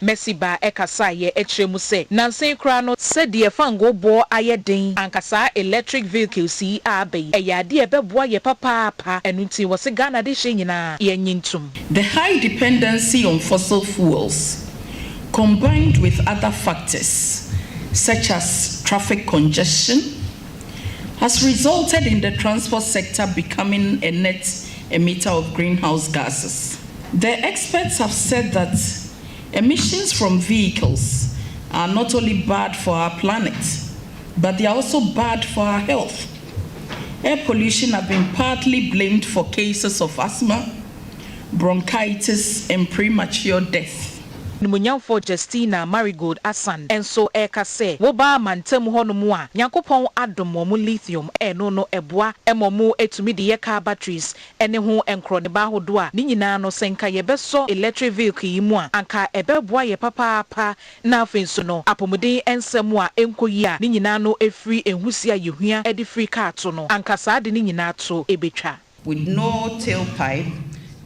Mercy baa ɛkasaeɛ ɛkyerɛ mu sɛ nansa yi koraa no, sɛdeɛ fangoo boɔ ayɛ den anka saa electric vehicles yi a aba yi ɛyɛ adeɛ a ɛbɛboa yɛ papaapa ɛno nti wɔ se Ghana de hyɛ nyinaa yɛnye ntom. The high dependency on fossil fuels combined with other factors such as traffic congestion has resulted in the transport sector becoming a net emitter of greenhouse gases. The experts have said that emissions from vehicles are not only bad for our planet but they are also bad for our health. Air pollution have been partly blamed for cases of asthma, bronchitis and premature death. Animuonyamfoɔ Justina Marigold Assan nso reka sɛ wobaa mantam hɔnom a Nyankopɔn adom wɔn lithium ɛno no ɛboa ma wɔtumi de yɛ car batteries ne ho nkorɔneba ahodoɔ a ne nyinaa no sɛ nka yɛbɛsɔ electric vehicle yi mu a anka ɛbɛboa yɛ papaapa na afei nso no apomuden nsa mu a ɛnkɔ yie a ne nyinaa no firi nhusie a yɛhua de firi kaa to no anka saa ade no nyinaa to bɛtwa. With no tailpipe,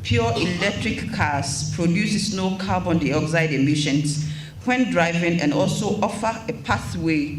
pure electric cars produces no carbon dioxide emissions when driving and also offer a pathway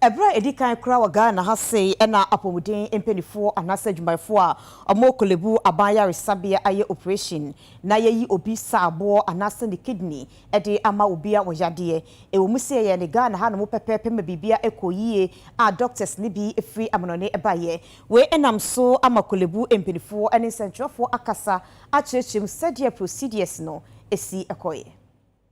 Ɛberɛ a ɛdi kan koraa wɔ Ghana ha sei ɛna apɔmuden mpaninfoɔ anaasɛ adwumayɛfoɔ a wɔwɔ Korlebu aban yaresabea ayɛ operation na yɛyi obi sa aboɔ anaasɛ ne kidney de ama obi a ɔyadeɛ. Ɛwɔ mu sɛ yɛyɛ no Ghana hanom pɛpɛɛpɛ ma biribiara ɛkɔɔ yie a doctors no bi firi amanɔne baeɛ. Wei ɛnam so ama Korlebu mpaninfoɔ ne nsɛntwerɛfoɔ akasa akyerɛkyerɛ mu sɛdeɛ procedures no si kɔeɛ.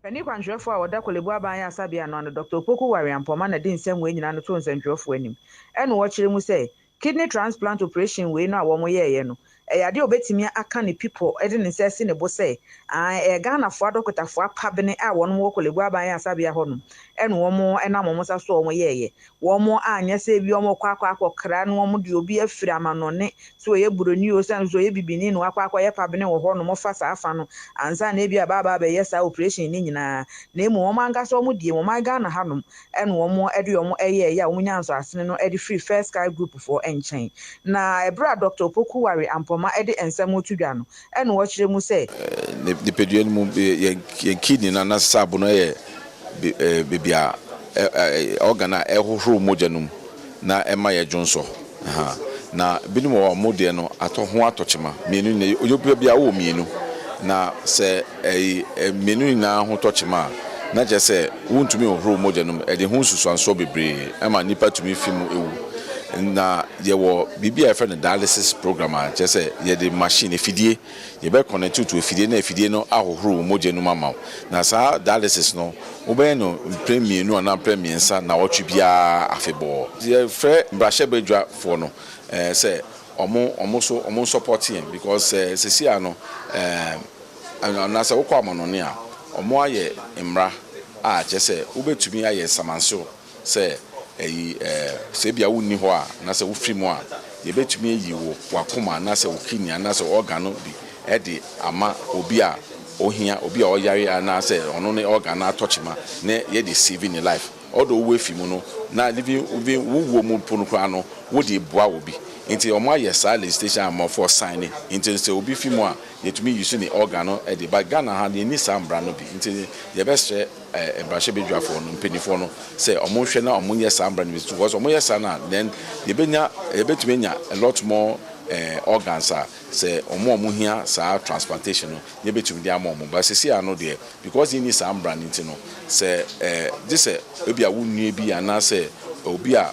Panin kwankyerɛfoɔ a ɔda Korle Bu Aban Ayarasabea no ano Doctor Opoku Wariampɔmah na di nsɛm wei nyinaa no too nsɛntwerɛfoɔ anim ɛna ɔkyerɛ mu sɛ kidney transplant operation wei no a wɔn yɛɛyɛ no ɛyɛ adeɛ a ɔbɛtumi aka ne pipɔ de ne nsa asi ne bo sɛ aane ɛyɛ Ghanafoɔ adɔkotafoɔ apabene a wɔnom wɔ Korle Bu Aban Ayarasabea hɔnom ɛna wɔn nam wɔn nsa so a wɔn yɛɛyɛ wɔn anyɛ sɛ ebi wɔkɔ akɔ akɔkra na wɔn de obi afiri amanɔne sɛ ɔyɛ buroni o sane sɛ ɔyɛ bibini na wakɔ akɔyɛ pabene wɔ hɔ nom fa saa fa no ansa na ebia bɛaba abɛyɛ saa operation no nyinaa na mmom wɔn ankasa wɔn deɛ wɔn man Ghana ha nom na wɔn de wɔn yɛɛyɛ a wɔn nyaa nsɔasene no de firi First Sky Group foɔ nkyɛn na ɛberɛ a Doctor Opoku Ware Ampoma de nsɛm reto dwa no na wɔkyerɛ mu sɛ. Nipadua no mu, yɛn kidney no anasesa abo no yɛ baabi a, organ a ɛhohoro mogya no mu na ɛma yɛ dwonsɔ. Na binom wɔ hɔ a wɔn deɛ no atɔ ho atɔ kyema. Mmienu nyinaa, onipa biara wɔ mmienu. Na sɛ mmienu nyinaa ho tɔ kyema a, na kyerɛ sɛ wontumi nhohoro mogya no mu. Ɛde ho nsusuansoɔ bebree ma nipa tumi fi mu wu. Na Yɛwɔ biribi a yɛfrɛ no dialysis program a kyerɛ sɛ yɛde machine, afidie, yɛbɛ connect wo to afidie na afidie no ahohoro wo mogya no mu ama wo. Na saa dialysis no wobɛyɛ no mprɛ mmienu anaa mprɛ mmiɛnsa nnawɔtwe biara afebɔɔ. Yɛfrɛ mmarahyɛbadwa foɔ no sɛ ɔmo ɔmo nso ɔmo nsɔpɔte yɛn because sɛ sɛsi ara no ɛɛm anaa sɛ wokɔ amanɔne a ɔmo ayɛ mmara a kyerɛ sɛ wobɛtumi ayɛ nsamansew Sɛ ɛyi, ɛɛ, sɛ ebia wonni hɔ a, anaasɛ wofi mu a, yebetumi ayi wo, w'akoma anaasɛ wo kidney anaasɛ organ no bi de ama obi a ohia, obi a ɔyare anaasɛ ɔno ne organ no atɔ kyema na yɛde save ne life. Although wo afi mu no, na living, even wo wuo mu mpo no koraa no, wode reboa obi. Nti wɔayɛ saa legislation a amanfoɔ sign, nti sɛ obi fi mu a, yetumi use ne organ no de, but Ghana ha no, yenni saa mmara no bi, nti yɛbɛsrɛ, mmarahyɛbedwafoɔ no mpaninfoɔ no sɛ ɔmo nhwɛ na ɔmo nyɛ saa mmara no bi because ɔmo yɛ saa na then yɛbɛnya yɛbɛtumi anya a lot more eh, organs a sɛ ɔmo a ɔmo hia saa transplantation no na yɛbɛtumi de ama ɔmo ba sisi ano deɛ because yɛnni saa mmara no nti no sɛ eh, gye sɛ ebi a wo nua bi anaasɛ obi a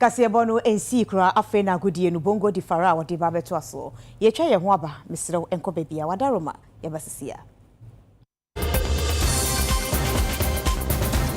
Kaseɛbɔ no nsii koraa afei na agodie no bongo di fara a wɔde ba bɛtoa soɔ. Yɛatwa yɛn ho aba, mesrɛ wo nkɔ baabiara, wada Roma, yɛba sesie a.